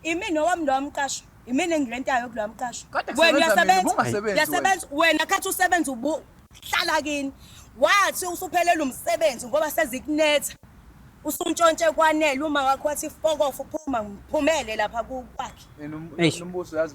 Imina owami lowa mqasho. Imina engirentayo kulowa mqasho. Kade Wena kusebenza mina, uyasebenza. ubungasebenzi Uyasebenza. Wena khathi usebenza ubu hlala kini. Wathi usuphelele umsebenzi ngoba sezikunetha. Usuntshontshe kwanele uma wakho wathi fokofu phuma ngiphumele lapha ku- kwakhe. Eish. Nombuso yazi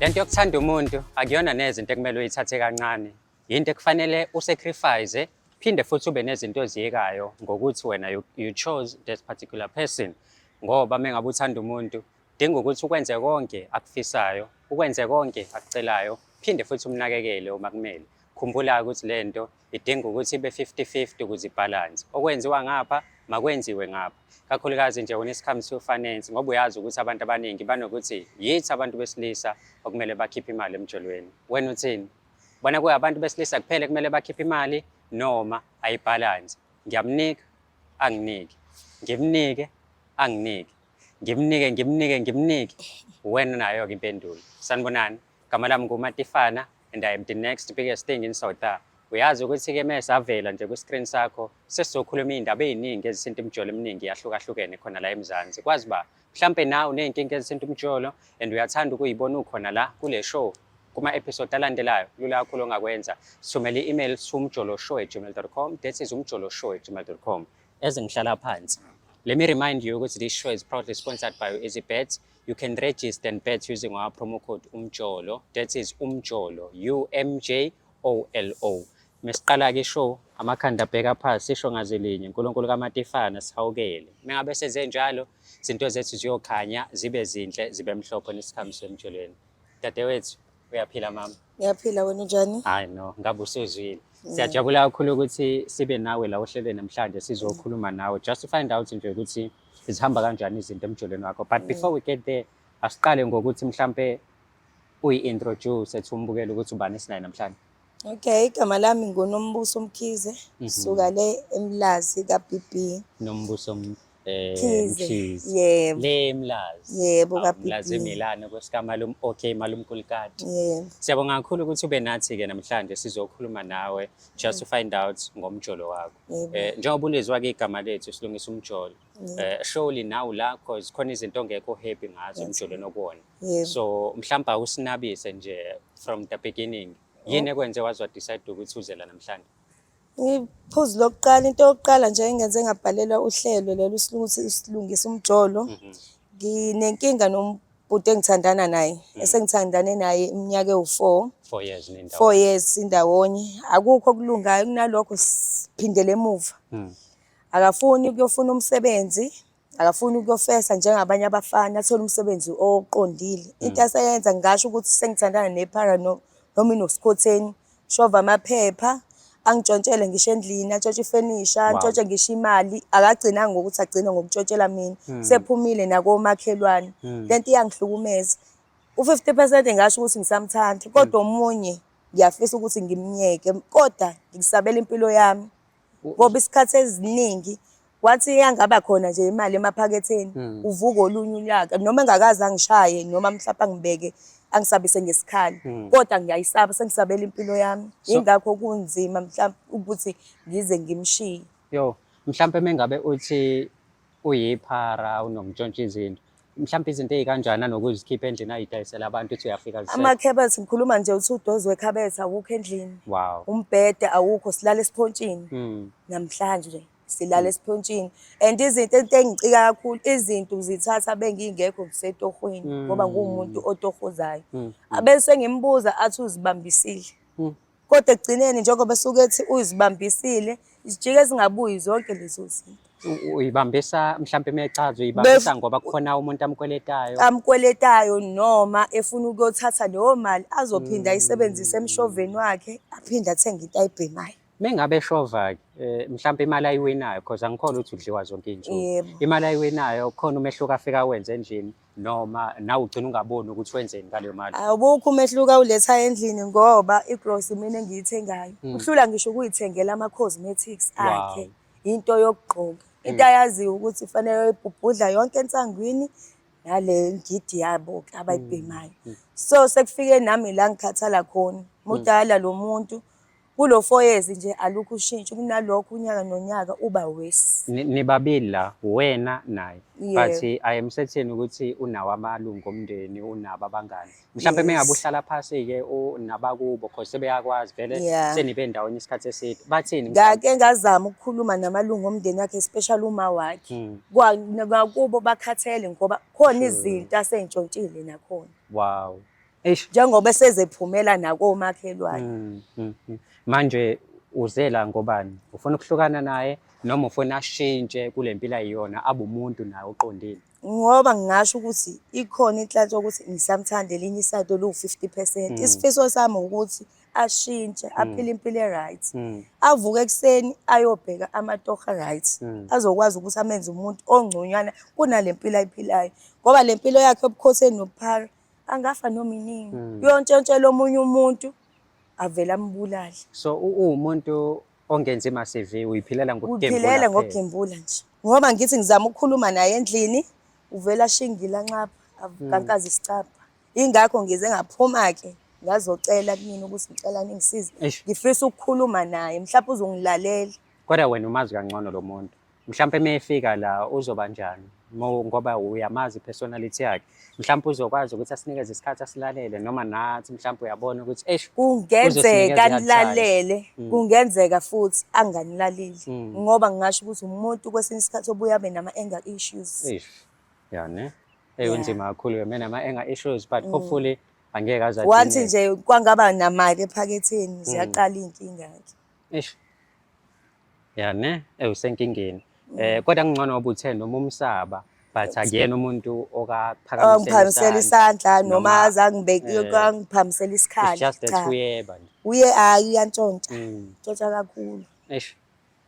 lento yokuthanda umuntu akuyona neze into ekumele uyithathe kancane yinto ekufanele usacrifice phinde futhi ube nezinto oziyekayo ngokuthi wena you, you chose this particular person ngoba mengabe uthanda umuntu dinga ukuthi ukwenze konke akufisayo ukwenze konke akucelayo phinde futhi umnakekele uma kumele khumbula ukuthi lento idinga ukuthi ibe 50-50 ukuze ibhalanse okwenziwa ngapha makwenziwe ngapha kakhulukazi nje when it comes to finance ngoba uyazi ukuthi abantu abaningi banokuthi yithi abantu besilisa okumele bakhiphe imali emjolweni wena uthini bona kuyabantu besilisa kuphele kumele bakhiphe imali noma ayibhalanse ngiyamnika anginiki ngimnike anginiki ngimnike ngimnike ngimnike wena nayo-ke impendulo sanibonani Gama lami nguMatifana and I am the next biggest thing in South Africa. Uyazi ukuthi-ke mesavela nje kwi-screen sakho sesizokhuluma iy'ndaba ey'ningi ezisinta imijolo eminingi yahlukahlukene khona la eMzansi. Kwazi ba mhlampe nawe uney'nkinga ezisinta umjolo and uyathanda ukuyibona ukhona la kule show kuma-episode alandelayo lula kakhulu ongakwenza sithumele i-email siwumjoloshow at gmail com that is umjoloshow at gmail com ezingihlala phansi let me remind you ukuthi this show is proudly sponsored by easy bets You can register and bet using our promo code umjolo. That is umjolo, U M J O L O. Mesiqala ke show amakhanda abheka phansi sisho ngazi linye uNkulunkulu kaMatifana sihawukele. Mengabe senze njalo izinto zethu ziyokhanya zibe zinhle zibe mhlophe nesikhambiso emjolweni. Dadewethu uyaphila mama. Ngiyaphila wena unjani? Hayi no, ngabe usuzwile. Mm. Siyajabula kakhulu ukuthi sibe nawe la ohlelweni namhlanje sizokhuluma nawe just to find out nje ukuthi zihamba kanjani izinto emjolweni wakho but mm. before we get there asiqale ngokuthi mhlampe uyi-introduce ethi umbukele ukuthi ubani esinaye namhlanje okay igama lami ngunombuso mkhize mhm. suka le emlazi ka-bb nombuso eh, mkhize yebo le emlazi yebo ka-bbmlazi emilane kwesikamalum okay malumkulikati yebo siyabonga kakhulu ukuthi ube nathi-ke namhlanje sizokhuluma nawe just to mm. find out ngomjolo wakho Yebo. Eh njengoba ulizwa ke igama lethu silungisa umjolo. Yebo. Eh surely nawu la cause khona izinto ongekho happy ngazo Yes. emjolweni okuwona. Yebo. So mhlawumbe awusinabise nje from the beginning. Yini ekwenze wazwa decide ukuthi uze la namhlanje? Ngiphuzu lokuqala into yokuqala nje engenze ngabhalelwa uhlelo lolu silungisa isilungisa umjolo. Mhm. Nginenkinga nom- Bhuti engithandana naye mm. esengithandane naye iminyaka ewu-four four years nindawo four years indawonye akukho okulungayo kunalokho siphindele emuva mm. akafuni ukuyofuna umsebenzi akafuni ukuyofesa njengabanye abafana athole umsebenzi oqondile mm. into aseyenza ngingasho ukuthi sengithandana nephara no, noma inosikhotheni Shova amaphepha, angitshontshele ngisho endlini, atshontshe ifenisha, antshontshe ngisho imali. Akagcinanga ngokuthi agcine ngokuntshontshelwa mina. Hmm. Sephumile nakomakhelwane. Hmm. Le nto iyangihlukumeza. U-fifty percent ngasho ukuthi ngisamthanda, kodwa omunye ngiyafisa ukuthi ngimyeke, kodwa ngikusabela impilo yami. ngoba isikhathi eziningi wathi iyangaba khona nje imali emaphaketheni hmm. uvuka olunye unyaka noma engakaze angishaye noma mhlawumbe angibeke angisabise ngesikhali hmm. kodwa ngiyayisaba sengisabela impilo yami ingakho kunzima mhlawumbe ukuthi ngize ngimshiye yo mhlawumbe mengabe uthi uyiphara unomntshontsha izinto mhlawumbe izinto ezikanjani anokuzikhipha endlini ayidayisela abantu uthi uyafika amakhebethi ngikhuluma nje uthi udozi wekhabethi awukho endlini wow umbhede awukho silala esiphontshini mm. namhlanje silala hmm. esiphontshini and izinto into engicika kakhulu izinto zithatha bengingekho ngisetohweni hmm. ngoba nguwumuntu otohozayo hmm. abese ngimbuza athi uzibambisile Kodwa ekugcineni njengoba esuke ethi uzibambisile, zijike ezingabuyi zonke lezo zinto. U- Uyibambisa mhlampe mechaza uyibambisa ngoba kukhona umuntu amkweletayo. amkweletayo noma efuna ukuyothatha leyo mali azophinda ayisebenzise emshoveni wakhe aphinde athenge into ayibhemayo Mengabe eshova ke eh, mhlampe imali ayiwinayo because angikholwa ukuthi udliwa zonke izinsuku. Yebo. Imali ayiwinayo khona umehluko afika wenze endlini. noma nawe ugcina ungaboni ukuthi wenzeni ngaleyo mali awubukho umehluko awuletha endlini ngoba igross mina engiyithengayo mm. uhlula ngisho ukuyithengela ama cosmetics akhe wow. into yokugqoka into mm. ayaziyo ukuthi ifanele ibhubhudla yonke ensangwini nale ngidi yabo abayibhemayo mm. mm. so sekufike nami la ngikhathala khona mudala mm. lo muntu Kulo four years nje alukho ushintsho kunalokho unyaka nonyaka uba worse. Ni- Nibabili la wena naye Yebo. but I am certain ukuthi unawo amalungu omndeni unabo abangani mhlawumbe Yes. mengabe uhlala phasi ke nabakubo cause sebeyakwazi vele Yeah. senibe ndawonye isikhathi eside bathini mhlawumbe? Ngake ngazama ukukhuluma namalungu omndeni wakhe especially uma wakhe. Mm. Kwa- Nakubo bakhathele ngoba khona Sure. izinto asentshontshile nakhona. wow Eish. njengoba esezephumela nakomakhelwane Mm, mm, mm. Manje uzela ngobani? Ufuna ukuhlukana naye noma ufuna ashintshe kule mpilo ayiyona abe umuntu naye oqondile? ngoba ngingasho ukuthi ikhona inhlanhla yokuthi ngisamthanda elinye isayidi oluwu-50 percent Mm. isifiso sami ukuthi ashintshe aphile impilo e-right Mm, avuke ekuseni ayobheka amatoha right mm. azokwazi ukuthi amenze umuntu ongconywana kunale mpilo ayiphilayo ngoba le mpilo yakhe ebukhoseni nobuphara angafa noma iningi mm. uyontshontshela omunye umuntu avele ambulale so uwumuntu ongenzi ma-cv uyiphilela ngokuphilela ngokugembula nje ngoba ngithi ngizama ukukhuluma naye endlini uvela shingila nxapha avukankazi mm. isicapha ingakho ngize ngaphuma-ke ngazocela kumina ukuthi ngicela ningisize ngifisa ukukhuluma naye mhlawumbe uzongilalela Kodwa wena umazi kangcono lo muntu. Mhlawumpe uma efika la uzoba njani? ngoba uyamazi i-personality yakhe. Mhlawumpe uzokwazi ukuthi asinikeze isikhathi asilalele noma nathi mhlawumpe uyabona ukuthi eish Kungenzeka nilalele, mm. kungenzeka futhi anganilaleli mm. ngoba ngingasho ukuthi umuntu kwesinye isikhathi obuye abe nama-anger issues. Eish. Ya ne? Eyi unzima kakhulu ke mina ama-anger issues but mm. hopefully angeke aze Wathi nje kwangaba namali ephaketheni ziyaqala iy'nkinga-ke. Eish. Ya ne, eh usenkingeni. Eh kodwa kungcono ngoba uthe noma umsaba but akuyena umuntu okaphakamisela. Ongiphakamisela isandla noma azangibeki eh, angiphakamisela isikhali. It's just that uyeba nje. Uye hayi uyantshontsha. Mm. Ntshontsha kakhulu. Eish.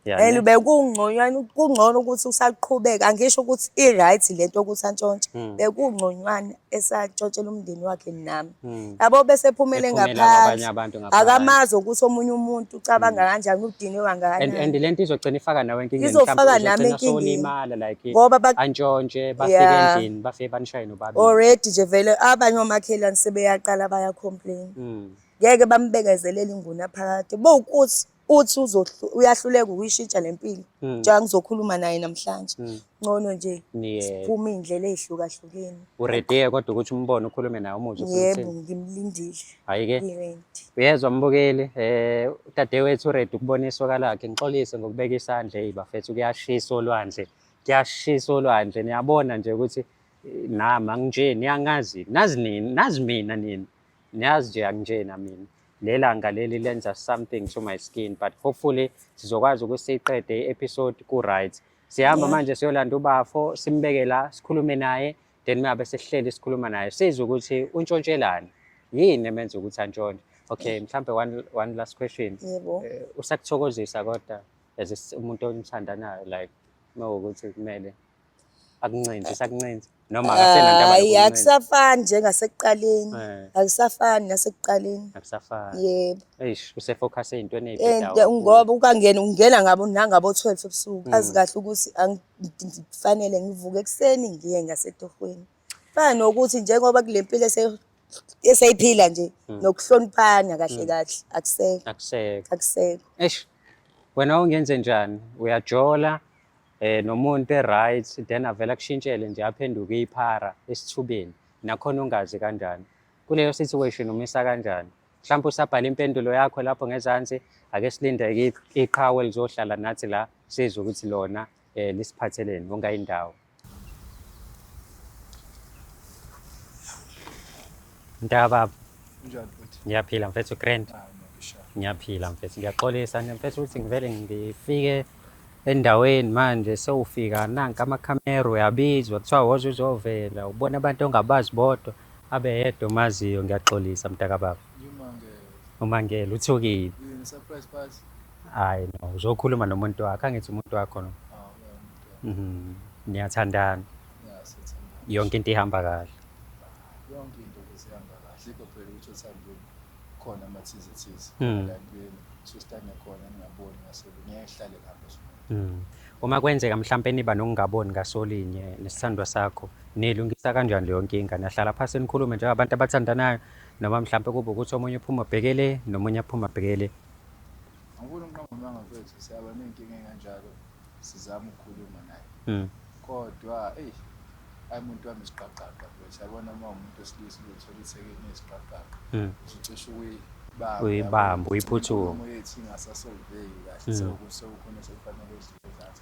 and ube kungconywana kungcono ukuthi usaqhubeka angisho ukuthi i-right le nto ukuthi antshontshe hmm. bekungconywana esatshotshela umndeni wakhe nami hmm. yabo mm. bese ephumele ngaphansi akamazi ukuthi omunye umuntu ucabanga hmm. kanjani udinwe kangakanani and lento izogcina ifaka nawe enkingeni izofaka nami enkingeni like ngoba bantshontshe bafike yeah. endlini bafike banishaye nobaba already nje vele abanye omakhelwane sebeyaqala baya complain mm. ngeke bambekezelele inguna phakade bowukuthi uthi uyahluleka ukuyishintsha le mpilo hmm. njengoba ngizokhuluma naye namhlanje hmm. ngcono nje siphume iy'ndlela ey'hlukahlukene uredeye kodwa ukuthi umbone ukhulume naye umuzwe yebo ngimlindile hhayi-ke uyezwa mbukeli um eh, udadewethu uredi ukubona isoka lakhe ngixolise ngokubeka isandla eyi bafethu kuyashisa olwandle kuyashisa olwandle niyabona nje ukuthi eh, nama nginje niyangazi nazi nini nazi mina nini niyazi nje anginjena mina lelanga leli lenza something to my skin but hopefully sizokwazi ukuthi siyiqede i-episode ku-right sihamba yeah. manje siyolanda ubafo simbeke la sikhulume naye then mabe sihleli sikhuluma naye sizwe ukuthi untshontshelani yini emenza ukuthi antshontshe okay mhlambe one, one last question yebo uh, eh, usakuthokozisa kodwa as umuntu omthandanayo like mawukuthi kumele akuncenze sakuncenze noma akasenanto hayi abayokuncenza. akusafani njengasekuqaleni Eh. akusafani nasekuqaleni akusafani yebo eish usefocus ey'ntweni Eh, ey'bhedayo nje- ngoba ukangena ungena ngabo nangabo 12 ebusuku azi kahle ukuthi angi- ngi- ngifanele ngivuke ekuseni ngiye ngasetohweni Fana nokuthi njengoba kule mpilo ese- eseyiphila nje Mm. nokuhloniphana kahle kahle akusekho akuseke akusekho eish wena ungenze njani uyajola eh nomuntu eright then avela kushintshele nje aphenduke iphara esithubeni nakhona ungazi kanjani kuleyo situation umisa kanjani mhlawumbe usabhala impendulo yakho lapho ngezansi ake silinde i- iqhawe lizohlala nathi la sizwe ukuthi lona eh lisiphatheleni wonke indawo Mntaka baba Unjani futhi? ngiyaphila mfethu grand Ah, ngisha. ngiyaphila mfethu ngiyaxolisa nje mfethu ukuthi ngivele ngifike endaweni manje sewufika nanka amakhamera uyabizwa kuthiwa woze uzovela ubona abantu ongabazi bodwa abe yedwa omaziyo ngiyaxolisa mntaka baba Yimangele. umangele uthukile Yini surprise party? Hayi no, uzokhuluma nomuntu wakho, angithi umuntu wakho no. Mhm. Niyathandana. Yonke into ihamba kahle. yonke into besihamba kahle ikho phela ukuthi othandweni khona amathize thize Mm. la empilweni sesitanda khona ngingaboni ngasebe ngeke sihlale lapho sona Mm. Uma kwenzeka mhlampe niba nokungaboni ngasolinye nesithandwa sakho, nilungisa kanjani leyo nkinga? Nahlala phansi nikhulume njengabantu abathandanayo noma mhlampe kube ukuthi omunye uphuma bhekele nomunye aphuma bhekele. angifuni ukunqonga umanga mfethu siyaba ney'nkinga ey'kanjalo sizama ukukhuluma naye hmm. kodwa eyi ayi muntu wami isiqaqaqa mfethu yabona uma umuntu wesilisa uzothola ithekeni yesiqaqaqa hmm. usucishe uyibamba uyiphuthume uyethi ingasasolveki kahle hmm. sekukhona sekufanele uzizathu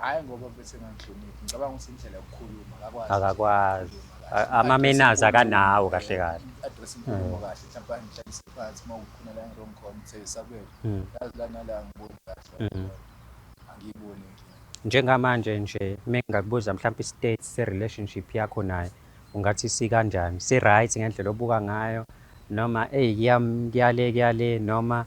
hayi ngoba bese ngangihloniphi ngicabanga ukuthi indlela yokukhuluma akakwazi akakwazi amamenazi akanawo kahle kahle address inkulumo hmm. kahle mhlawumbe angihlalise phansi uma kukhona la ngirong khona uthe isabelo hmm. yazi la nala angiboni kahle hmm. angiyiboni njengamanje nje mengakubuza mhlawumbe i-state se-relationship yakho naye ungathi sikanjani si-right ngendlela obuka ngayo noma eyi kuyale kuyale noma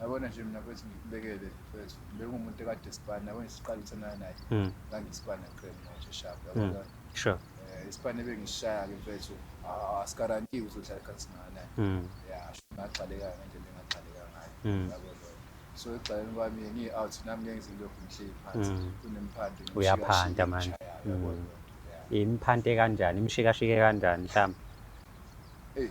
Yabona nje mina mfethu ngikubekele mfethu. Bengumuntu ekade sibana, yabona siqala ukuthandana naye. Mm. Ngangisibana kuphela manje sharp. Mm. Yabona? Sure. Eh, isibane bengisishaya-ke mfethu. Ah, asikarantiwe ukuthi uhlala ekhaya singakanani. Mm. Ya, sho ngagxaleka ngendlela engagxaleka ngayo. Mm. Yabo lokho. So ekugxaleni kwami ngiyi-out nami ngeke ngize ngilokhu ngihleli phansi. Mm. Kunemphanti ngishika- Uyaphanta shika manje. ngishayayo, yabo Mm. lokho. Ya. Imphante kanjani? Imshikashike kanjani mhlawumbe? Eyi,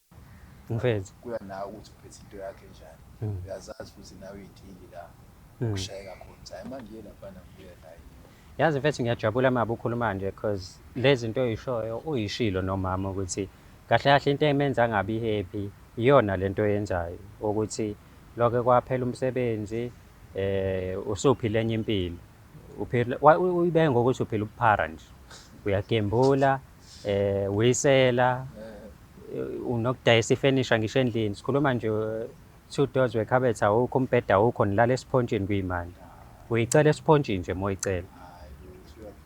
Mfethu. Kuya nawe ukuthi uphethe into yakho enjani. Uyazazi futhi nawe iy'nkingi la okushayeka khona. Hhayi manje yena mfana ngibuya naye. Yazi mfethu ngiyajabula maba ukhuluma nje cause le zinto oyishoyo uyishilo nomama ukuthi kahle kahle into emenza angabi happy iyona le nto oyenzayo ukuthi loke kwaphela umsebenzi eh usuphila enye impilo uphila uyibe ngokuthi uphila ubuphara nje uyagembula eh uyisela unokudayisa ifenisha ngisho endlini sikhuluma nje two doors wekhabethe awukho umbheda awukho nilala esiphontshini kuyimali uyicela esiphontshini nje moyicela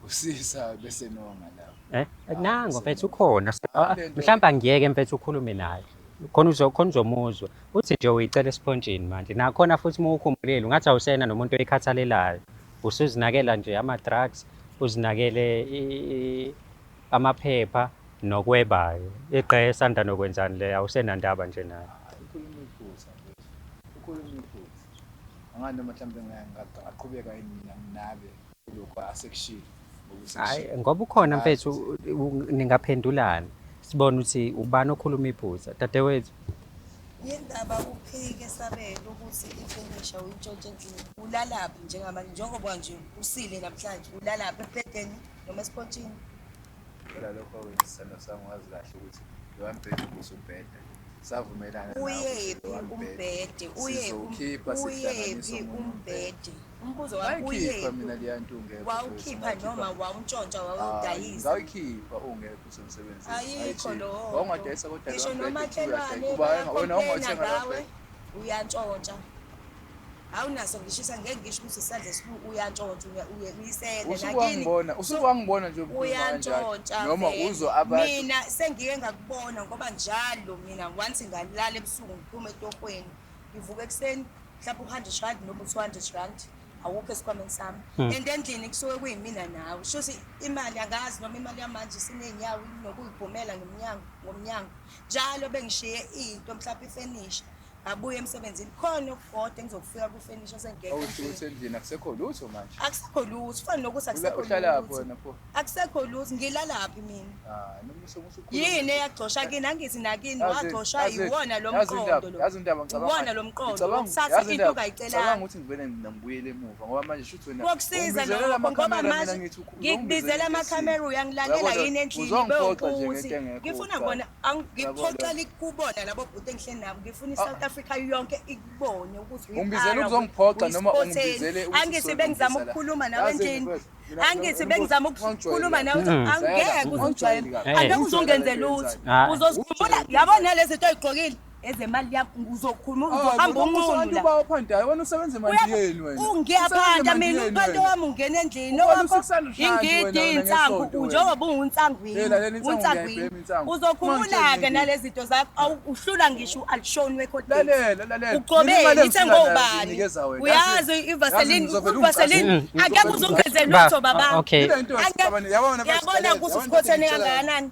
usisa bese nonga la eh nango mfethu ukhona ah, mhlawumbe angiyeke mfethu ukhulume naye khona uzokhona uzomuzwa uthi nje uyicela esiphontshini manje nakhona futhi uma ukhumbulile ungathi awusena nomuntu oyikhathalelayo usuzinakela nje ama-drugs uzinakele amaphepha nokwebayo iqe esanda nokwenzani le awusenandaba nje nayo ukhuluma iphutha mfethu ukhuluma iphutha angani noma mhlawumbe ngaqhubeka yini mina nginabe kulokho asekushilo hayi ngoba ukhona mfethu ningaphendulani sibone ukuthi ubani okhuluma iphutha dadewethu yindaba uphike sabele ukuthi ifenisha uyintshontshe endlini ulalaphi njengamanje njengoba nje usile namhlanje ulalaphi ebhedeni noma esipotshini phela lokho wena isithando sami wazi kahle ukuthi lowambhede ukuze ubheda savumelana uyephi umbhede uzokhipha sihlanganiso umbhede umbuzo wakho uyephi mina liyantunge wawukhipha noma wawuntshontsha wawudayisa ngawukhipha ungekho usemsebenzini ayikho lo wawungadayisa kodwa ngisho nomakhelwane wena ongothenga ngawe uyantshontsha awunaso ngishisa ngeke ngisho ukuthi isandla esibuku uyantshontsha uye uyisele usukungibona usukungibona nje uyantshontsha noma uzwa abantu mina sengike ngakubona ngoba njalo mina once ngalala ebusuku ngiphuma etokweni ngivuka ekuseni mhlawumbe uhande shandi noma uthi uhande shandi awukho esikhwameni sami hmm. and endlini kusuke kuyimina nawe sho ukuthi imali angazi noma imali yamanje siney'nyawo nokuyibhumela ngomnyango ngomnyango njalo bengishiye into mhlawumbe ifenisha abuye emsebenzini khona okukodwa engizokufika kufenisha sengekho awusho ukuthi endlini akusekho lutho manje akusekho lutho fana nokuthi akusekho lutho akusekho lutho ngilalaphi mina ah, yini eyagcosha kini angithi nakini wagcoshwa yiwona lo mqondo lo yiwona lo mqondo ukuthatha into ungayicelaanga ukuthi ngivele ngibuyele emuva ngoba manje shuthi wena kokusiza lokho ngoba manje ngikubizela amakhamera uyangilalela yini endlini bewukuthi ngifuna kubona Angiphoxela ikubona labo bhuti engihleli nabo ngifuna iSouth ah. Africa yonke ikubone ukuthi ungibizele ukuzongiphoxa noma ungibizele ukuthi angithi bengizama ukukhuluma nawe endlini angithi bengizama ukukhuluma nawe hmm. angeke uzongijwayela angeke uzongenzela lutho uzozikhumbula yabona lezi zinto oyigqokile ezemali yakho uzokhuluma ah, uzohamba unqunu la uphanda hayi wena usebenza imali yeni wena ungiyaphanda mina uphanda wami ungena endlini owakho ingidi insangu njengoba ungunsangwini unsangwini uzokhumula ke nalezi zinto zakho uhlula ngisho ualshoni wekhodi lalela lalela uqobeni ithe ngobani uyazi ivaseline ivaseline akekho uzungeze lutho baba ah, okay yabona ukuthi usikhothene kangakanani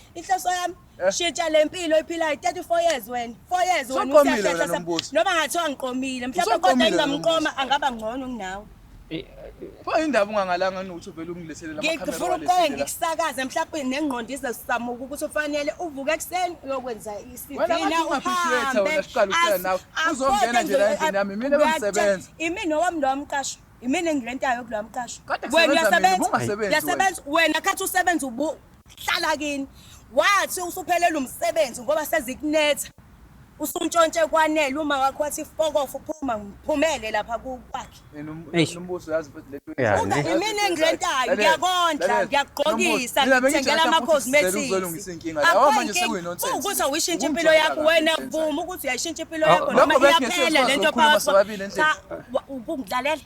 inhloso yami Eh? shitsha le mpilo oyiphilayo 34 years wena 4 years wena Usuqomile usehlehla wena lo sam- mbuso. noma ngathiwa ngiqomile mhlawumbe kodwa Usuqomile wena engingamqoma angaba ngcono kunawe pho indaba ungangalanga nokuthi uvele ungileselela ngifuna ukuqoke ngikusakaze mhlawumbe nengqondo izesamuka ukuthi ufanele uvuke ekuseni uyokwenza Wena isivina ngathi ungaphishiwetha wena, siqala ukuhlala nawe. Uzongena nje la endlini yami, imina bengisebenza. imina owami lowa mqasho imina engirentayo kulowa mqasho Kade wena kusebenza mina, uyasebenza ubungasebenzi uyasebenza wena khathi usebenza ubu hlala kini wathi usuphelele umsebenzi ngoba sezikunetha usuntshontshe kwanele uma wakho wathi fokofu phuma ngiphumele lapha kwakhe Eish. nombuso yazi mfethu le Yeah, Yazi, ne- imini engilentayo Lalela, ngiyakondla lalela. ngiyakugqokisa Mina bengitshela ngikuthengela futhi ama-cosmetics sizele uzolungisa inkinga la. Akho Awa, manje inkinga. sekuyi-nonsense. Ukuthi awuyishintshe impilo Ukungijola yakho la, wena nonsense. vuma ukuthi uyayishintsha impilo Oh, yakho lokho noma bese iyaphela ngeke lento sikwazi ukukhuluma phakathi sobabili endlini. cha wa- ukungilalela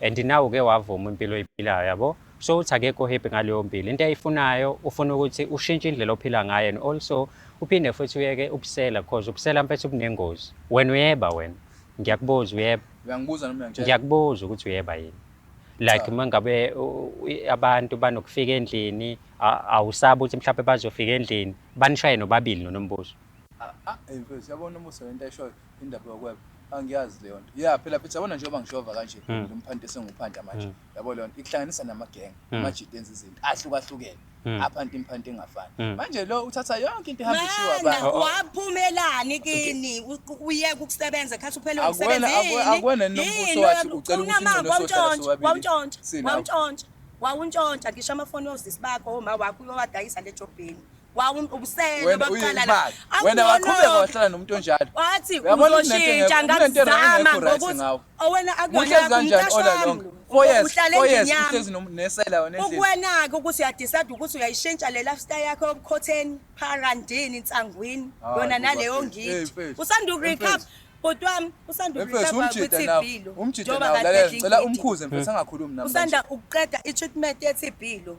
and now uke wavuma impilo oyiphilayo yabo so uthi akekho happy ngaleyo mpilo into ayifunayo ufuna ukuthi ushintshe indlela ophila ngayo and also uphinde futhi uyeke ubusela because ubusela mfethu bunengozi wena uyeba wena ngiyakubuza uyeba uyangibuza noma uyangitshela ngiyakubuza ukuthi uyeba yini like uma ngabe abantu banokufika endlini awusaba ukuthi mhlawumbe bazofika endlini banishaye nobabili nonombuzo ah, ah, yabona umusa lento eshoyo indaba yokweba angiyazi leyo nto ya phela phetha yabona njengoba ngishova kanje hmm. lo mphanti esenguphanda manje hmm. yabo leyo nto ikuhlanganisa namagenge hmm. amajidi enza izinto ahlukahlukene aphanti imphanti engafani manje lo uthatha yonke into ehamba ishiwa abantu oh, oh. waphumelani kini uyeke ukusebenza khathi uphele umsebenzini akwena nombuso wathi ucela ukuthi umuntu osothatha wawuntshontsha wawuntshontsha wawuntshontsha ngisho amafoni yozisi bakho oma wakho uyowadayisa lejobheni wawubusele baqala wena waqhubeka wahlala nomuntu onjalo wathi uzoshintsha ngakuzama ngokuthi owena akuyona umqasho wami ukwenake ukuthi uyadicide ukuthi uyayishintsha le lifestyle yakho yobukhotheni pharandini nsangwini ah, yona naleyo ngidi usanda ukurecap bhuti wami usanda ukurecapa kwi-tb lo njengoba kade ngicela umkhuze mfethu angakhulumi nami usanda ukuqeda i-treatment ye-tb lo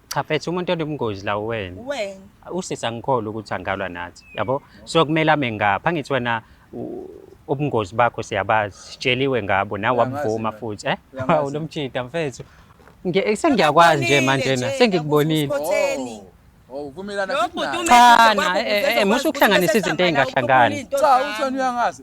cha mfethu umuntu onobungozi la uwena Wena. usisi angikholwa ukuthi angalwa nathi yabo so kumele ame ngapha angithi wena u- ubungozi bakho siyabazi sitsheliwe ngabo nawe Uyangazi wabuvuma mina. futhi eh Uyangazi. Hawu, lomjita mfethu Nge- sengiyakwazi nje manje na sengikubonile Khotheni. Oh, uvumelana Lo futhi bhuti naye. ume- Cha, Uzoba na- eh, eh, ukuze musa ukwazi ukuhlanganisa ukuthi izinto usehlangana. ezingahlangani. Into Cha, zakho. uthoni uyangazi.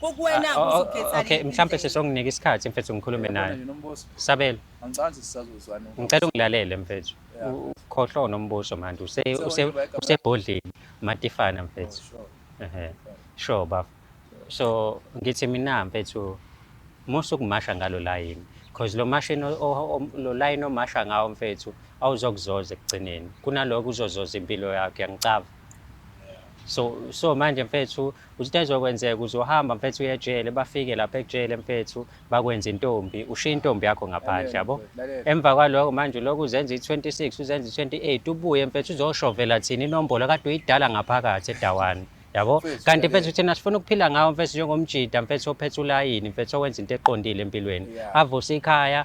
kokuwena Ah, oh, oh, uzokhetha okay liphi mhlampe indlela? sesonginika isikhathi mfethu ngikhulume Yabona naye nje nombuso sabelo angicabangi ukuthi sisazozwana ngicela ungilalele mfethu Yeah. U- ukhohlwa unombuso manje use Ngicela use ukuba igama- usebhodleni matifana mfethu Oh, sure. ehe sure bafo so ngithi mina mfethu musa ukumasha ngalo layini because lo mashini o- o- o- lo layini omasha ngawo mfethu awuzokuzoza ekugcineni kunaloko uzozoza impilo yakho yangicava so so manje mfethu uthi into ezokwenzeka uzohamba mfethu uye ejele bafike lapha ekujele mfethu bakwenza intombi ushiya intombi yakho ngaphandle yabo emva kwaloko manje lokhu uzenza i-26 uzenza i-28 ubuye mfethu uzoshovela thina inombolo kade uyidala ngaphakathi edawani yabo kanti mfethu thina sifuna ukuphila ngawo mfethu njengomjida mfethu ophethe ulayini mfethu owenza into eqondile empilweni avuse ikhaya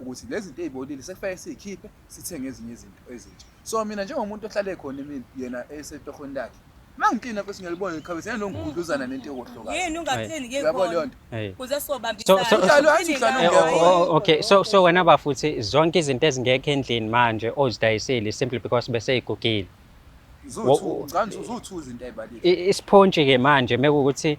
ukuthi lezi zinto ezibolile sekufanele sizikhiphe sithenge ezinye izinto ezintsha so mina njengomuntu ohlale khona emini yena esetohweni lakhe mangiklina mfethu ngiyalibona ikhabethe yena nongigudluzana nento yokuhloka yini ungaklini ke uyabona leyo nto kuze sobambisana okay so so wena bafuthi zonke izinto ezingekho endlini manje ozidayisile simply because bese igugile izothu ngani uzothu izinto ayibalile isiphontshi ke manje mekukuthi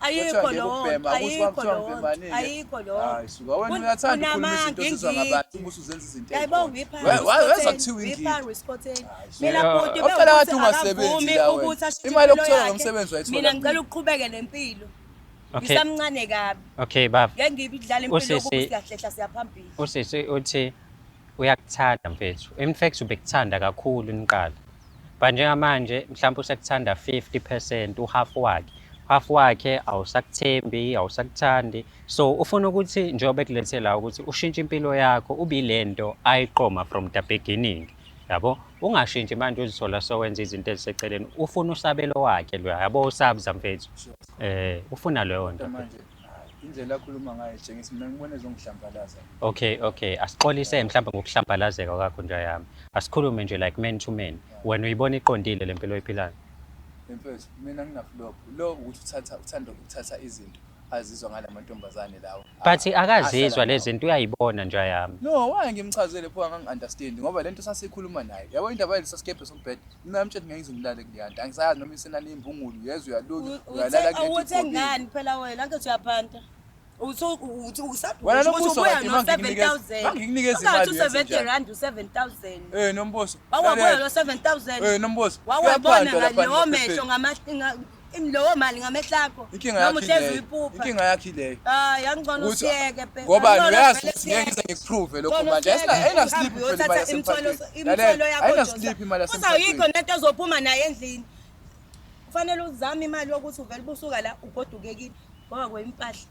ayikho lonto ayikho lonto ayikho lonto unamanga ingiyayibongaipharuispoteinimina ngicela ukuqhubeke nempilo ngisamncane kabi okay baba ngeke ngibidlala impilo yokusiyahlehla siyaphambili usisi uthi uyakuthanda mfethu in fact ubekuthanda kakhulu niqala but njengamanje mhlawumbe usekuthanda 50 percent uhafu wakhe hafu wakhe awusakuthembi awusakuthandi so ufuna ukuthi njengoba ekulethe la ukuthi ushintshe impilo yakho ubile nto ayiqoma from the beginning yabo ungashintshi manje uzithola sowenza izinto eziseceleni ufuna usabelo wakhe loya yabo usabza mfethu eh ufuna leyo nto indlela akhuluma ngayo jengisa mina ngibona ezongihlambalaza okay okay asixolise mhlawumbe ngokuhlambalazeka kwakho nja yami asikhulume nje like man to man wena uyibona iqondile le mpilo oyiphilayo mfethu mina nginaflop lo ukuthi uthatha uthanda ukuthatha izinto azizwa ngala mantombazane lawo but ah, akazizwa ah, lezi zinto uyayibona nje yami no why ngimchazele pho angangi-understand ngoba le nto sasikhuluma naye yabo indaba yelisasikebhe sombhede Mina mtshela ngeke ngize ngilale kuleyanto. Angisazi noma isenani imbungulu yezwe uyalunye uyalala kule. Awuthe ngani phela wena anke uyaphanta. Utho uthi ukusaphi wena nombuso kade manginikeza manginikeza imali yethu 70 rand 7000 eh nombuso wawabuya lo 7000 eh nombuso wawabona ngani omehlo ngamahlanga Lowo mali ngamehlakho. Inkinga yakhe leyo. Inkinga yakhe leyo. Hayi angcono usiyeke phela. Ngoba uyazi ukuthi ngeke ngize ngikuprove lokho manje. Ayina ayina sleep phela imali yasemthwalo. Imthwalo yakho. Ayina sleep imali yasemthwalo. Uzayikho nento ezophuma naye endlini. Kufanele uzame imali yokuthi uvele busuka la ugoduke kini. Ngoba kwempahla.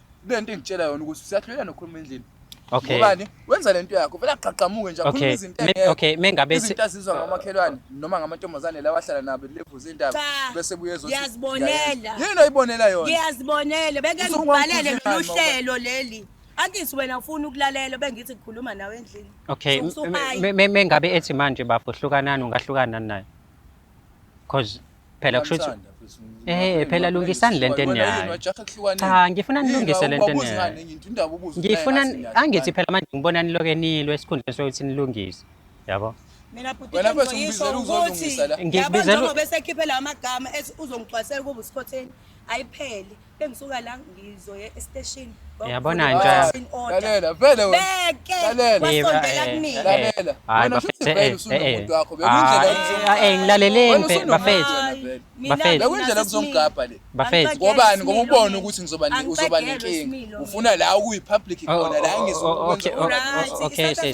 kule nto engitshela yona ukuthi usiyahluleka nokhuluma endlini Okay. Ngobani? Wenza lento yakho. Vele aqhaqhamuke nje akhuluma Okay. izinto Me- engekho. okay, mengabe se- izinto azizwa ngamakhelwane noma ngamantombazane lawa ahlala nabo levuza indaba Cha. bese buye ezothi Ngiyazibonela. ngiyayena. Yini oyibonela yona? ngiyazibonele beke Usuku ngibhalele wamkhulumela mina ngoba- uhlelo leli angithi wena ufuna ukulalela bengithi ngikhuluma nawe endlini Okay, So- so me- I- me- me- mengabe ethi manje bafo hlukanani ungahlukanani naye? Cause Phela kusho ukuthi Ngiyamthanda, mfethu. Eh, phela lungisani lento Wena yini, enayo. wajaha kuhlukaneni. Cha, ngifuna Yini, nilungise lento awubuzi enayo. ngani enye into, indaba ubuza ukuthi Ngifuna naye ngathi angithi ngiyazi. phela manje ngibona niloke nilwe esikhundleni sokuthi nilungise. Yabo? Mina bhuti Wena mfethu, ngizoyisho ngibizela ukuthi uzolungisa la. yabo Ngibizela- njengoba esekhiphela amagama ethi uzongigcwalisela ukuba uskhotheni ayiphele Bengisuka la ngizoye esteshini. Yabona nja. Lalela, vele wena. Beke. Lalela. Wasondela kumina. Lalela. Hayi bafethu eh eh. Ah eh ngilaleleni bafethu. Bafethu. Bekundlela kuzongigabha le. Bafethu. Ngobani ngoba ubona ukuthi ngizoba uzoba nenkinga. Ufuna la ukuyi public oh, khona la oh, ngizokwenza. Oh, okay. Okay.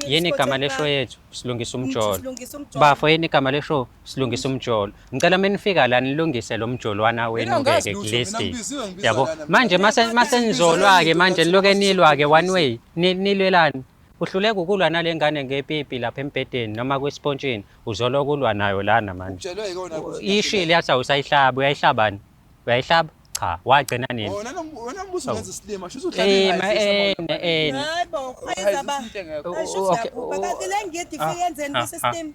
Yini igama lesho yethu? Silungisa umjolo. Bafo yini igama lesho? silungisa umjolo ngicela menifika la nilungise lo mjolwana wenu ke kulisti yabo manje mase nizolwa ke manje niloke nilwa ke one way nilwelani uhluleka ukulwa nale ngane ngepipi lapha embhedeni noma kwispontshini uzolo kulwa nayo lana manje ishile yathi awusayihlaba uyayihlabani uyayihlaba cha wagcina nini wena wena mbuzo ngenza isilima shuthi uhlale naye hayibo ayizaba okay okay lengidi ifike yenzeni kuse steam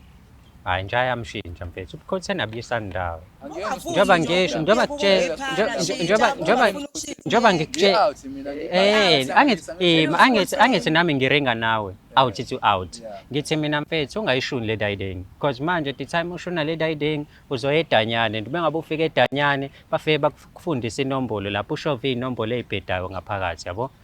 hayi nje ayamshintsha mfethu ubukhotheni abuyisani ndawo njengoba ngisho njengoba kutshela njengoba njengoba njengoba ngikutshela eh angithi eh, angithi angithi nami ngiringa nawe out to out ngithi mina mfethu ungayishuni le dayiding because manje the time ushuna le dayiding uzoya edanyane noma ngabe ufika edanyane bafike bakufundisa inombolo lapho ushova inombolo ezibhedayo ngaphakathi yabo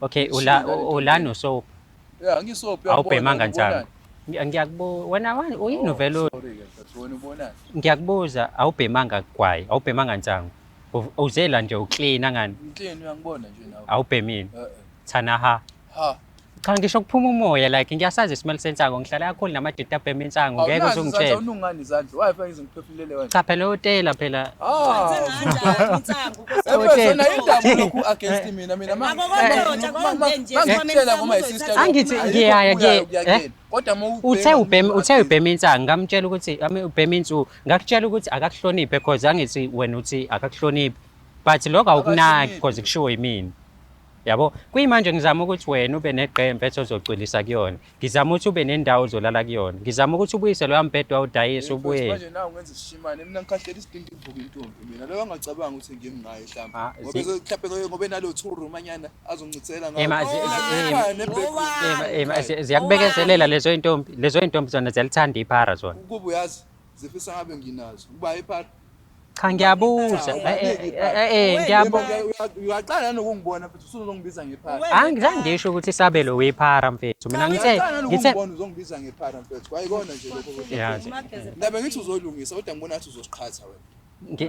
Okay, ula ulani usoap? Yeah, ngisoap. Awubhemanga njalo. Ngiyakubuza wena wani uyini oh, vele wena ubonani? Ngiyakubuza awubhemanga kwayi, awubhemanga njango. Uzela nje uclean angani? Clean uyangibona nje nawe. Awubhemile. Eh, eh. Thana ha. Ha. Cha ngisho kuphuma umoya like ngiyasazi isimelo sensango ngihlala kakhulu namadida abhema insango ngeke uzungitshela. Awunazi izandla unungani izandla. Why fanele ngiphefumulele wena? Cha phela utela phela. Ah. angithi ngiyaya eh? uthe ubhema uthe ubhema insangu ngamtshela ukuthi ubhema insuku ngakutshela ukuthi akakuhloniphe cause angithi wena uthi akakuhloniphi but lokho awukunaki cause kushiwo yimina yabo kuyimanje ngizama ukuthi wena ube neqembu ethi ozocwilisa kuyona Ngizama ukuthi ube nendawo ozolala kuyona. Ngizama ukuthi ubuyise loya mbhede wawudayisa ubuye. Manje nawe ungenza isishimane. Mina ngikhahlele isidingo ivuka intombi mina. Loyo angacabanga ukuthi ngimi ngaye hlamba. Ah, Ngoba zi- mhlawumbe loyo ngoba enalo two room anyana azoncithela ngayo. Ema, zi- zi- ema, Ekhaya nebed- Ema, ema, zi- ziyakubekezelela lezo intombi. Lezo intombi zona ziyalithanda iphara zona. Ukuba uyazi Zifisa ngabe nginazo. Uba ephatha. Cha ngiyabuza. Eh eh, eh, eh, eh ngiyabuza. Uyaqala nanokungibona futhi usuzongibiza ngephara. Hayi ngizange ngisho ukuthi isabelo wephara mfethu. Mina ngithe ngithe uzongibiza ngephara mfethu. Kwayikona nje lokho. Yazi. Ngabe ngithi uzolungisa kodwa ngibona ngathi uzosiqhatha wena.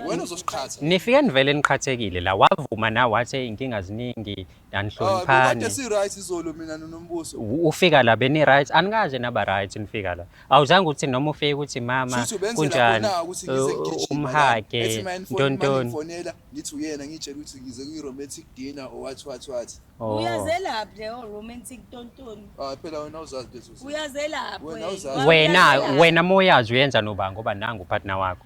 wena uzosiqhatha nifike nivele niqhathekile la wavuma na wathi inkinga ziningi anihloniphani ah, si right izolo mina nonombuso ufika la beni right anikaze naba right nifika la awuzange uthi noma ufike ukuthi mama kunjani uh, umhage ntontoni ngifonela ngithi uyena ngitshela ukuthi ngize kuyi romantic dinner or what what what oh. uyazelaphi leyo oh, romantic tontoni ah phela wena uzazi lezo uyazelaphi wena wena moyazi uyenza noba ngoba nangu partner wakho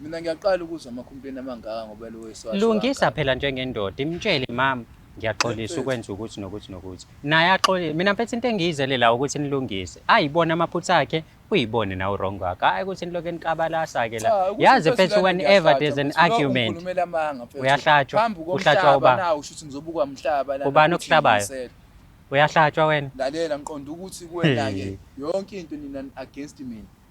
Mina ngiyaqala ukuzwa amakhumpeni amangaka ngoba lo weswazi. Lungisa phela njengendoda imtshele mama ngiyaxolisa ukwenza ukuthi nokuthi nokuthi. Naye axolile. Mina mfethu into engiyizele la ukuthi nilungise. Ayibone amaphutha akhe uyibone nawe wrong wakho. Hayi ukuthi nilokho enikabalasa ke la. Yazi mfethu whenever there's an argument. Ukhulumela amanga mfethu. Uyahlatshwa. Uhlatshwa uba. Nawu shuthi ngizobukwa umhlaba la. Ubani okuhlabayo? Uyahlatshwa wena. Lalela ngiqonda ukuthi kuwena ke yonke into nina against mina.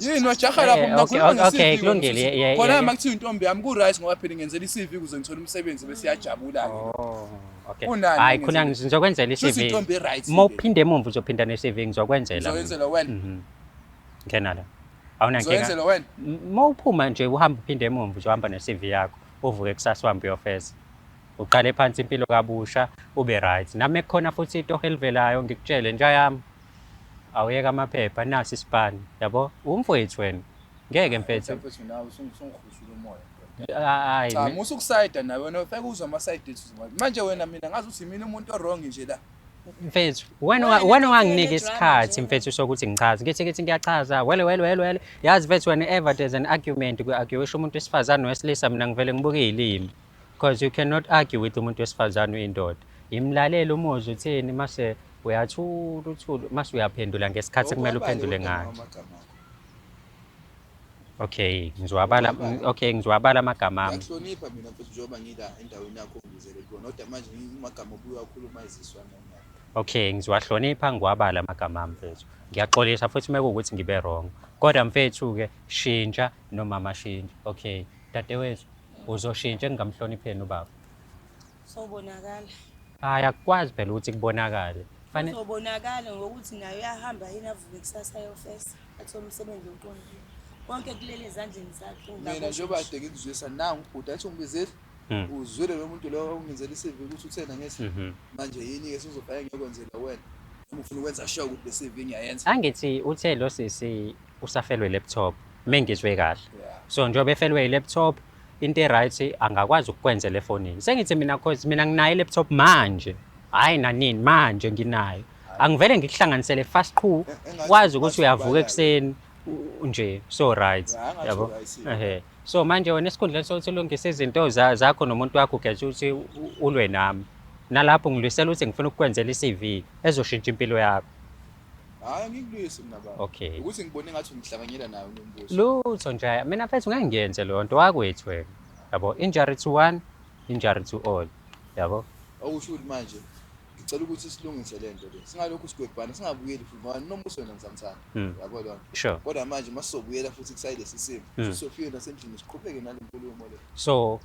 yini wajaha lapho Eh, mina okay, khuluma okay, nge-CV kulungile, yeah, yeah, khona yeah. uma kuthiwa intombi yami ku-right ngoba phela ngenzela i-cv ukuze ngithole umsebenzi bese iyajabula-ke Oh, okay. Unani Hayi khona ngenzeni? ngizokwenzela Shuthi i-CV. intombi e-right Uma le. uphinde emumva uzophinda ne-CV ngizokwenzela. mina. Ngizokwenzela wena. Mhm. Ngena la. Awunankinga. Ngizokwenzela wena. M- Uma uphuma nje uhamba uphinde emumva uzohamba ne-CV yakho. Uvuke kusasa uhambe uyofeza. Uqale phansi impilo kabusha ube right. Nami kukhona futhi itoho elivelayo ngikutshele nja yami. Awuyeke amaphepha nasi isipani yabo umfowethu wena ngeke mfethu. Mfethu nawe usungihusula umoya. Hayi. Cha musa ukusayida nawe wena ufeke uzwa ama side ethu. Manje wena mina ngazi uthi mina umuntu owrong nje la. Mfethu wena wena wanginika isikhathi mfethu sokuthi ngichaze. Ngithi ngithi ngiyachaza wele wele wele wele. Yazi mfethu wena ever there's an argument ku argue isho umuntu wesifazane wesilisa mina ngivele ngibuke ilimi. because you cannot argue with umuntu wesifazane uyindoda yimlalele umuzwa uthini mase uyathula uthula mase uyaphendula ngesikhathi kumele uphendule ngayo okay ngizwabala okay ngizwabala amagama ami ngihlonipha mina mfethu njengoba ngila endaweni yakho ngizele kona kodwa manje ngimagama obuya khuluma iziswa nami okay ngiziwahlonipha ngiwabala amagama ami mfethu ngiyaxolisa futhi uma kuwukuthi ngibe wrong kodwa mfethu-ke shintsha nomama shintsha okay dadewethu Uzoshintsha engingamhlonipheni ubaba. Sobonakala. Hayi akukwazi phela ukuthi kubonakale. Fane Sobonakala ngokuthi naye uyahamba yini avuke kusasa ayofesa athi umsebenzi oqondile. Konke kulele ezandleni zakhe. mina njengoba ngingakwazi. kade ngikuzwisa nangu ubhuti athi ungibizile Mm. uzwile lo muntu lowo ongenzela i-cv ukuthi uthena ngesi Mhm. manje yini-ke sizofake ngiyokwenzela wena noma ufuna ukwenza sure ukuthi le-cv ngiyayenza angithi uthe lo sisi usafelwe laptop mengizwe kahle so njengoba efelwe ilaptop into eright angakwazi ukukwenza lefonini sengithi mina cause mina nginayo ilaptop manje hayi nanini manje nginayo angivele ngikuhlanganisele fast qhu wazi ukuthi uyavuka ekuseni nje so right yabo ehe so manje wena esikhundleni sokuthi ulungise izinto zakho nomuntu wakho ugeza ukuthi ulwe nami nalapho ngilwisela ukuthi ngifuna ukukwenzela i-CV ezoshintsha impilo yakho Hayi ngikubuyise mina baba. Okay. Ukuthi ngibone ngathi ungihlanganyela nayo unombuso. Lutho nje mina mfethu ngeke ngiyenze leyo nto wakwethu wena. Yabo injury to one, injury to all. Yabo. Okusho ukuthi manje ngicela ukuthi silungise le nto le singalokhu sigwebhana singabuyeli futhi ngoba nombuso wena ngizamthanda hmm. yabo lona sure kodwa manje uma sizobuyela futhi kusayile lesi simo hmm. sofike nasendlini siqhubeke nale nkulumo le so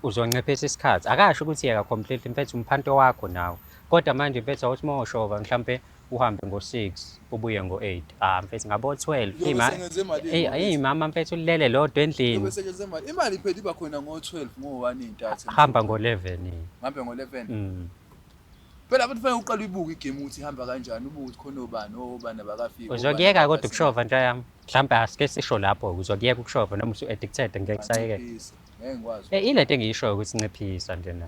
uzoncephesa isikhathi akasho ukuthi yeka completely mfethu umphanto wakho nawe Kodwa manje mfethu awuthi uma ushova mhlampe uhambe ngo-6 ubuye ngo-8 ah mfethu ngabo-12 Uyobe Ima- usengenze malini Eyi, ngoba eyi mama mfethu ulele lodwa endlini Uyobe usengenze malini? Imali iphela iba khona ngo-12 ngo-1 intathu. hamba ngo-11 Ngihambe ngo-11. mm. Phela abantu fanele uqale uyibuke igame ukuthi ihamba kanjani, ubuke ukuthi khona obani, obani abakafiki. uzokuyeka kodwa ukushova nto yami mhlawumbe asike sisho lapho uzokuyeka ukushova noma usu-addicted ngeke kusayekeka Ngeke ngikwazi. Eh, ilento engiyishoyo ukuthi nciphisa nje na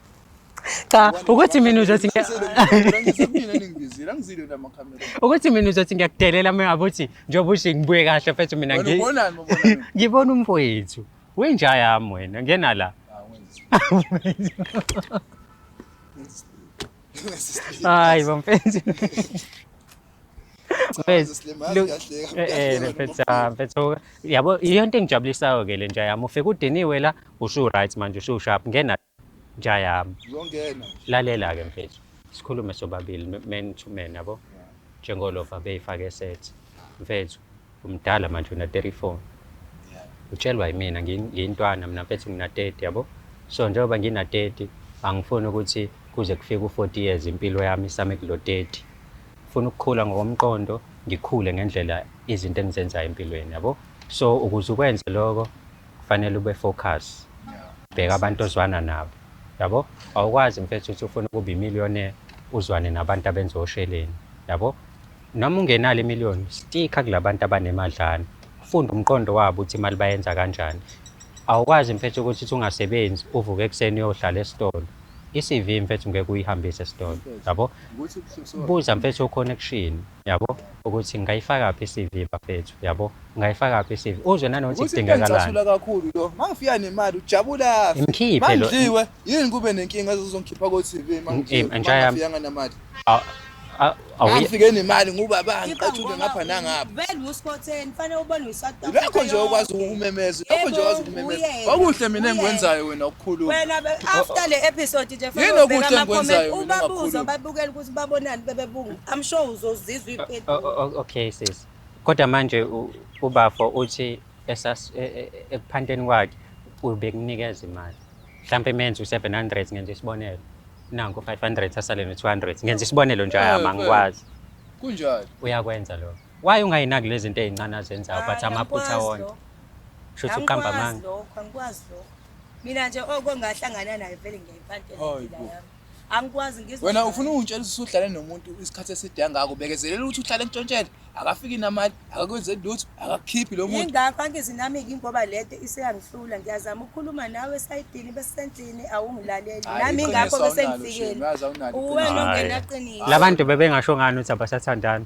cha ukuthi mina uzothi ukuthi mina uzothi ngiyakudelela uma ngabe uthi njengoba ushe ngibuye kahle mfethu mina ngibona umfowethu wenja yami wena ngena la hayi bamfethu mfethu yabo iyonto engijabulisayo-ke le nja yami ufike udiniwe la usu-right manje usu-sharp ngena Nja yami. Uyongena nje. Lalela ke mfethu. Sikhulume sobabili m- man to man yabo. Njengolova beyifake set. Mfethu umdala manje una 34. Utshelwa yimina ngi- ngiyintwana mina mfethu ngina 30 yabo. So njengoba ngina 30 angifuni ukuthi kuze kufike u 40 years impilo yami isame kulo 30. Ngifuna ukukhula ngokomqondo, ngikhule ngendlela izinto engizenzayo empilweni yabo. So ukuze ukwenze lokho kufanele ube focus bheka abantu ozwana nabo yabo awukwazi mfethu uthi ufuna ukuba imillionaire uzwane nabantu abenza osheleni yabo noma ungenalo imillion stika kulabantu abanemadlana funda umqondo wabo ukuthi imali bayenza kanjani awukwazi mfethu ukuthi uthi ungasebenzi uvuke ekuseni uyohlala esitolo i-CV mfethu ngeke uyihambise esitolo yabo buza mfethu o-connection Yabo? Ukuthi ngingayifakaphi iCV bafethu. Yabo? Ngingayifakaphi iCV. Uzwe nanokuthi Ukuthi into kudingekalani. engicasula kakhulu lo mangifika nemali ujabula afe. Imkhiphe lo- Mangidliwe yini kube nenkinga ezozongikhipha ko TV Im- mangidliwe intsha uma yami. ngingafikanga nemali. Aw- aw- awu- Mangifike nemali ngubaba ngicatshule ngapha nangapha. Vele uskhotheni fanele ubone uSouth Africa. Lokho nje okwazi yonke. ukumemeza, lokho nje Yebo, okwazi ukumemeza. uyena, Okuhle mina uyena. engikwenzayo wena ukukhuluma. Wena be- after le episode nje Yini fanele ubheke okuhle ama-comment, engikwenzayo mina ubabuze ngakhuluma? babukele ukuthi babonani bebebungu. I'm sure uzozizwa ipedu. O- o- o- okay sis kodwa manje u- ubafo uthi esas- e- e- e- ekuphanteni kwakhe ubekunikeza imali mhlawumpe menze u-700 ngenza isibonelo nanku 500 asale no-200 ngenza isibonelo nje Eh, hhayi, eh. angikwazi Kunjalo. uyakwenza lokho waye ungayinaki lezi zinto ey'ncane azenzayo but amaphutha wonke shuthi uqamba amanga lokho angikwazi lokho mina nje okongahlangana naye vele ngiyayipantela Hayi impilo bo. yami angikwazi ngizwa wena ufuna ungitshela ukuthi uhlale nomuntu isikhathi eside angako bekezelela ukuthi uhlale ntshontshele akafiki namali akakwenze lutho akakhiphi lo muntu ingakho angizi nami ngingoba lento iseyangihlula ngiyazama ukukhuluma nawe esayidini besendlini awungilaleli nami ingakho besengifikele uwena ongenaqiniso labantu bebengasho ngani ukuthi abasathandani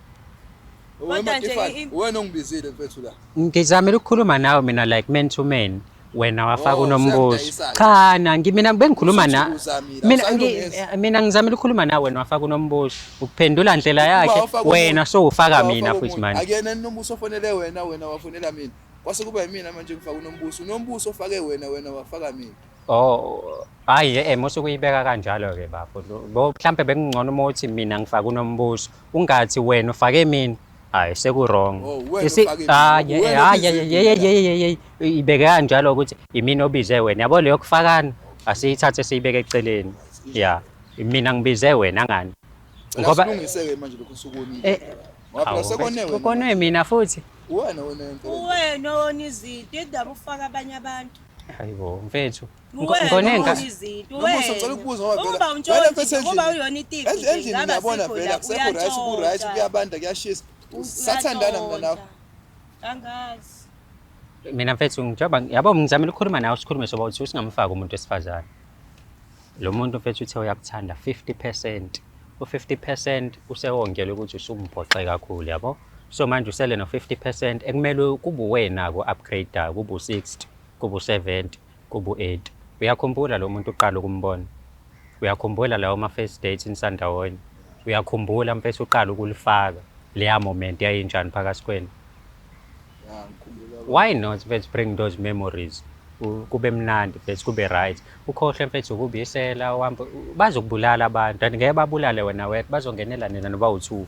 Kodwa nje i- wena ongibizile mfethu la ngizamile ukukhuluma nawe mina like man to man wena wafaka Oh, unombuzo useyamdayisayo. cha na ngi- mina bengikhuluma na Usuthi uzamile, mina awusayi ngi- kulungisa. mina ngizamile ukukhuluma nawe wena wafaka unombuzo ukuphendula ndlela Uba yakhe wafaka umuntu, wena so ufaka uba mina wafaka futhi umuntu. manje akuyena yini nombuso ofonele wena wena wafonela mina kwase kuba yimina manje ngifaka unombuso unombuso ofake wena wena wafaka mina oh hayi em usukuyibeka kanjalo ke bafo Lo- bo mhlambe bekungcono uma uthi mina ngifaka unombuzo ungathi wena ufake mina hayi sekurong ibeke kanjalo ukuthi imini obize wena yabo leyo kufakana asiyithathe siyibeke eceleni ya mina ngibize wena ngani ngoba eh, kone mina futhi uwena wena izinto indaba ufaka abanye abantu hayibo mfethu Ngonenka. Nomusa ngicela ukubuza ngoba vele. Uma untshontshe ngoba uyona itifi. Endlini ngiyabona vele akusekho right ku right kuyabanda kuyashisa. Sathandana mina nawe. Angazi. Mina mfethu ngijoba yabo ngizama ukukhuluma nawe sikhulume soba uthi usingamfaki umuntu wesifazane. Lo muntu mfethu uthe uyakuthanda 50%. U50% usewongelwe ukuthi usumbhoxe kakhulu yabo. So manje usele no 50% ekumele kubuwena ko upgrade kubu 60 kubu 70. kubuEddy. Uyakhumbula lo muntu uqala ukumbona? Uyakhumbula lawo ma-first dates nisandawonye? Uyakhumbula mfethu uqala ukulifaka leya moment yayinjani phakathi kwenu? Ya, ngikhumbula baba. Why not mfethu bring those memories? U- Kube mnandi mfethu kube right. Ukhohlwe mfethu ukubisela uhambe bazokubulala abantu and ngeke babulale wena wedwa bazongenela nina noba u-two.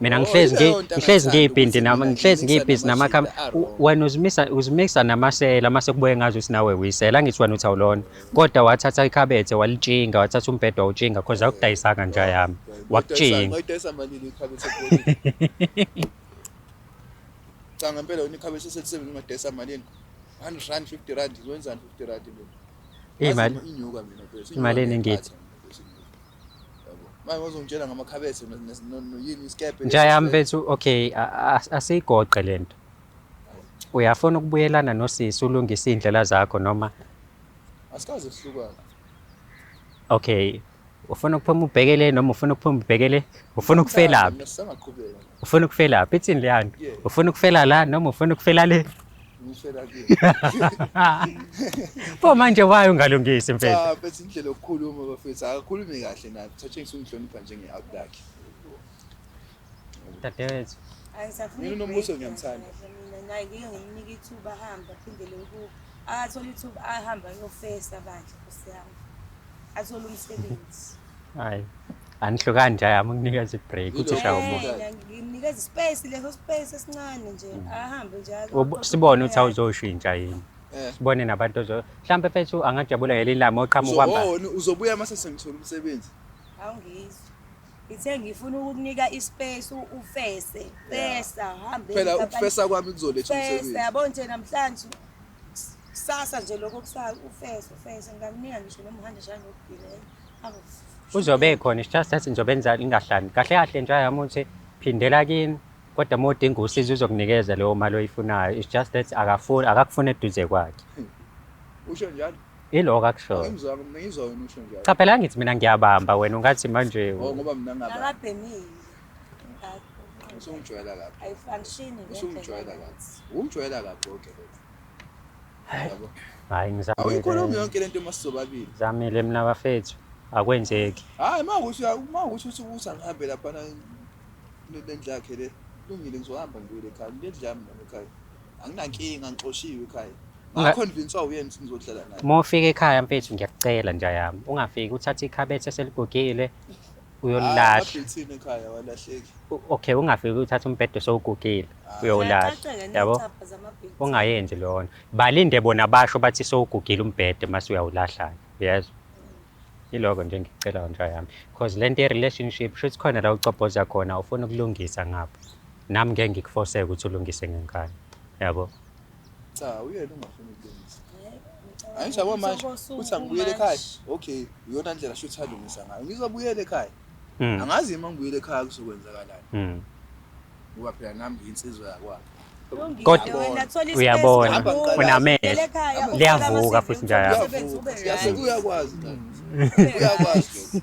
mina ngihlezi ngi ngihlezi ngiyibhindi nama ngihlezi ngiyibhizi nama kham wena uzimisa uzimisa namasela mase kubuye ngazi ukuthi nawe uyisela angithi wena uthi awulona kodwa wathatha ikhabethe walitshinga wathatha umbhedo wawutshinga cause akudayisanga nja yami wakutshinga cha ngempela wena ikhabethe selisebenza ungadayisa malini 100 rand 50 rand izwenzani 50 rand imali inyuka mina imali enengithi manje wazongitshela ngamakhabethe noyini isikebhe nja yami bethu okay asiyigoqe le nto uyafuna ukubuyelana nosisi ulungise iy'ndlela zakho noma asikaze sihlukane okay ufuna ukuphuma ubhekele noma ufuna ukuphuma ubhekele ufuna ukufelaphi ufuna ukufelaphi ithini leyani ufuna ukufela la noma ufuna ukufela le Ngishela kuye. Pho manje waye ungalungisi mfethu. Cha, bese indlela yokukhuluma bafethu akakhulumi kahle naye. Thatshengisa ukungihlonipha njenge-out lakhe. Dadewethu. Angisafuni Mina uNombuso break, ngiyamthanda. mina naye ngike ngimnika ithuba ahambe aphindele kubo akathole ithuba ahamba ayofesa bandla nkosi yami athole umsebenzi Hayi. anihlukani nje ayami nginikeza ibreak uthi Yilo shawa umoya kodwa. nginikeza ispace leso space esincane nje ahambe nje aze- Ubu- sibone ukuthi awuzoshintsha yini Eh. sibone nabantu ozo mhlawumbe fethu angajabula ngelinye ilanga oqhamuka Uzo- uhamba oh, ni- uzobuya uma sesengithola umsebenzi awungizwa ngithe ngifuna ukukunika ispace u- ufese fesa hambe phela ukufesa kwami kuzoletha umsebenzi yabo nje namhlanje Kusasa nje lokho kusasa ufeso ufeso ngamnika ngisho nomhanda njalo ngokugilele. Awu. Uzobe ekhona it's just that ngizobe enza ingahlani. Kahle kahle nje yami uthi phindela kini kodwa uma udinga usizo uzokunikeza leyo mali oyifunayo. It's just that akafuni akakufuna eduze kwakhe. Usho njalo. Iloko akushoyo. Ngimzwa ngizwa wena usho njalo. Cha phela ngithi mina ngiyabamba wena ungathi manje Oh ngoba mina ngaba. Akabhemile. Usungijwayela kabi. Ayifangishini Usungijwayela kabi. Ungijwayela kabi konke lokho. Hayi. Yabo. Hayi ngizamile. Awuyikhulumi yonke lento uma sizobabili. Ngizamile mina bafethu. Akwenzeki. Hayi uma ukuthi uma ukuthi uthi ukuthi angihambe lapha na lendlu yakhe le. Lungile ngizohamba ngibuyele ekhaya. Lendlu yami nami ekhaya. Anginankinga ngixoshiwe ekhaya. Unga- Ngakhonvinsa uyena ukuthi ngizohlala naye. Uma ufika ekhaya mfethu ngiyakucela nja yami. Ungafiki uthathe ikhabethe seligugile. uyolala Abhethini ekhaya walahleki. U- okay ungafiki uthatha umbhede sowugugile uyowulala Ziyacaceka yabo nezicabha zamabheki. ungayenzi lona balinde bona basho bathi sowugugile umbhede mase uyawulahlana uyezwa yiloko nje engikucelayo nja yami because le nto ye-relationship shuthi khona la ucobhoza khona ufuna ukulungisa ngapha nami ngeke ngikufoseke ukuthi ulungise ngenkani yabo Cha uyena ungafuni ukulungisa. Hayi nje manje uthi angibuyele ekhaya. Okay, uyona ndlela shuthi alungisa ngayo. Ngizobuyela ekhaya. Hmm. Angazi uma ngibuyele ekhaya kuzokwenzakalani. Hmm. Ngoba phela nami ngiyinsizwa yakwami. Kodwa uyabona unamehlo liyavuka futhi njalo. Uyakwazi. Uyakwazi.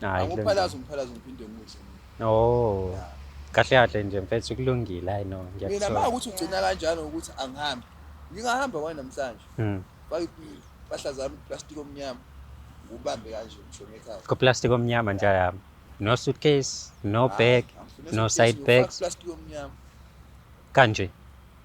Hayi, kulungile. angiphalazi umphalazi ngiphinde ngidle Oh. Ya. Kahle kahle nje mfethu kulungile hayi no mina ma ngiyakuthola. ukuthi ugcina kanjani ukuthi angihambi ngingahamba kwani namhlanje Mm. faka impahla zami iplastiki omnyama ngubambe kanje ngishone ekhaya Ku plastic omnyama nje yami. No suitcase, no bag, no side bags plastiki omnyama kanje.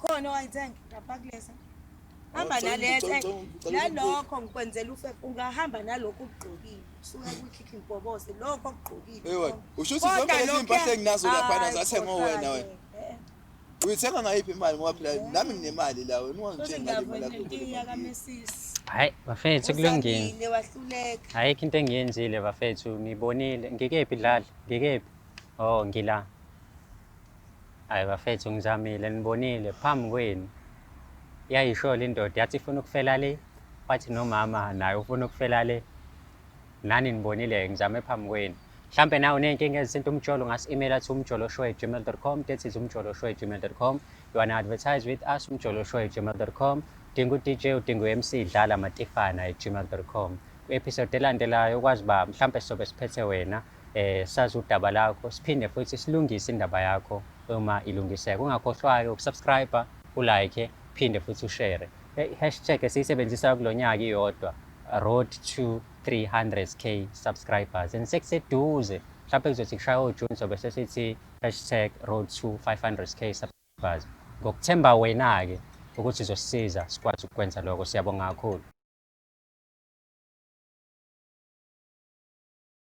Khona owayithenga ngapha kulesa. Hamba nalethe. Eh, nalokho ngikwenzela ufe ungahamba nalokho ukugqokile. Suka kukhikhi ngibobose lokho okugqokile. Ewe, usho ukuthi zonke lezi impahla enginazo lapha na zathengwa wena wena. Eh. Uyithenga ngayiphi imali ngoba phela nami nginemali la wena ungangithenga imali yakho. Hayi bafethu kulungile. Wahluleka. Ayikho into engiyenzile bafethu ngibonile ngikephi dlala ngikephi. Oh ngila. Hayi bafethu ngizamile nibonile phambi kwenu yayisholo indoda yathi ifuna ukufela le wathi nomama naye ufuna ukufela le nani nibonile ngizame phambi kwenu mhlampe nawe uney'nkinga ezisinto umjolo ngasi-email athi umjolo show at gmail com that is umjolo show at gmail com you wanna advertise with us umjolo show at gmail com udinga u-dj udinga u-mc dlala matifana at gmail com kwi-episode elandelayo ukwazi uba mhlampe sizobe siphethe wena eh, sazi udaba lakho siphinde futhi silungise indaba yakho uma ilungiseka ungakhohlwayo ukusubscribe ulike phinde futhi ushare hashtag esiyisebenzisayo kulo nyaka iyodwa road to 300k subscribers and sekuseduze mhlawumbe kuzothi kushaya ojuni sobe sesithi hashtag road to 500k subscribers ngokuthemba wena-ke ukuthi uzosisiza sikwazi ukukwenza lokho siyabonga kakhulu